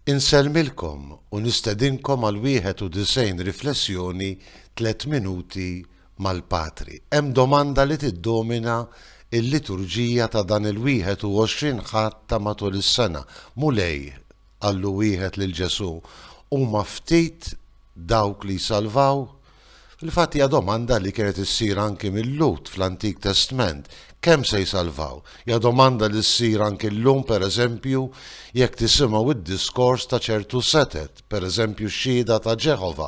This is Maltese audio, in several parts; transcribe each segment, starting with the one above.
Insellmilkom u nistedinkom għal 91 riflessjoni tliet minuti mal-Patri. Hemm domanda li tiddomina l-liturġija ta' dan il-21 Ħadd ta' matul is-sena. Mulej, qallu wieħed lil Ġesù, huma ftit dawk li jsalvaw? Fil-fatt hija domanda li kienet issir anki mil-Lhud fl-Antik Testment, kemm se jsalvaw? Hija domanda li ssir anki llum pereżempju jekk tisimgħu d-diskors ta' ċertu setgħet, pereżempju x-Xhieda ta' Ġeħova,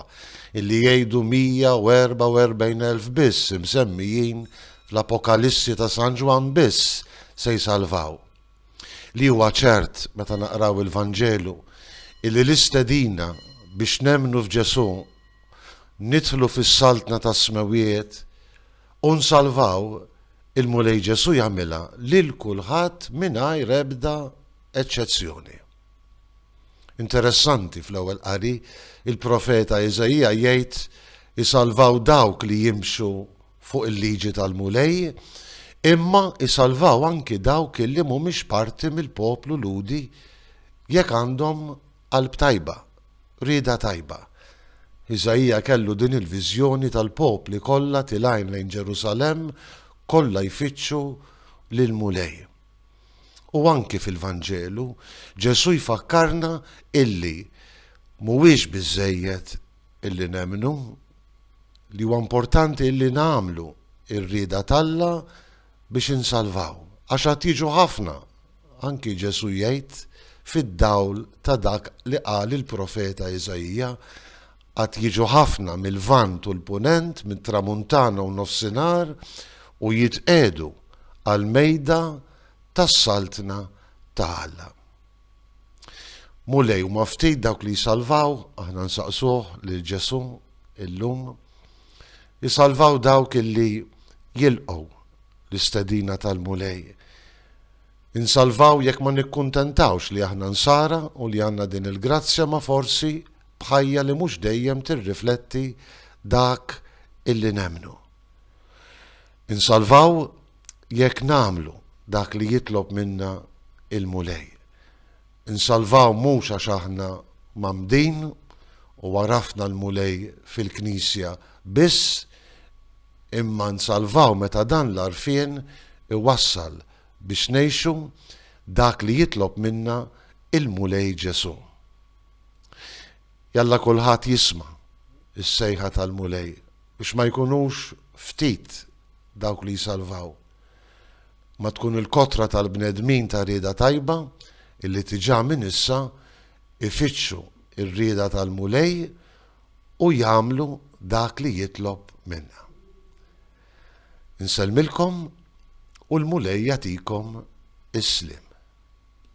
illi jgħidu 144 elf biss imsemmijin fl-Apokalissi ta' San Ġwann biss se jsalvaw. Li huwa ċert meta naqraw il-Vanġelu illi l-istedina biex nemmnu f'Ġesù nidħlu fis-Saltna tas-Smewwiet u nsalvaw, il-Mulej Ġesù jagħmilha lil kulħadd mingħajr ebda eċċezzjoni. Interessanti fl-ewwel qari il-profeta Iżaija jgħid isalvaw dawk li jimxu fuq il-liġi tal-Mulej, imma isalvaw anki dawk li mhumiex parti mill-poplu Lhudi jekk għandhom Qalb tajba, rieda tajba. Iżaija kellu din il-viżjoni tal-popli kollha tilgħin lejn Ġerusalemm kollha jfittxu lill-Mulej. U anki fil-Vanġelu, Ġesù jfakkarna illi mhuwiex biżżejjed illi nemmnu, li huwa importanti illi nagħmlu r-rieda t'Alla biex insalvaw, għax għad jiġu ħafna Anki Ġesù jgħid, fid-dawl ta' dak li qal il-profeta Iżaija, Għad jiġu ħafna mil-Lvant u l-Punent, mit-Tramuntana u Nofsinhar, u jitqiegħdu għall-mejda tas-Saltna ta' Alla. Mulej, huma ftit dawk li jsalvaw, aħna nsaqsuh lil Ġesù illum, isalvaw dawk illi jilqgħu l-istedina tal-Mulej. Insalvaw jekk ma nikkuntentawx li aħna Nsara u li għandna din il-grazzja ma forsi b'ħajja li mhux dejjem tirrifletti dak illi nemmnu. Insalvaw jekk nagħmlu dak li jitlob minna il-Mulej. Insalvaw mhux għax aħna mgħammdin u għarafna l-Mulej fil-Knisja biss, imma nsalvaw meta dan l-għarfien iwassal biex ngħixu dak li jitlob minna il-Mulej Ġesù. Jalla kulħadd jisma' s-sejħa tal-Mulej biex ma jkunux ftit dawk li jsalvaw. Ma tkun il-kotra tal-bnedmin ta' rieda tajba illi diġà minn issa ifittxu r-rieda tal-Mulej u jagħmlu dak li jitlob minna. Insellmilkom u l-Mulej jagħtikom is-sliem.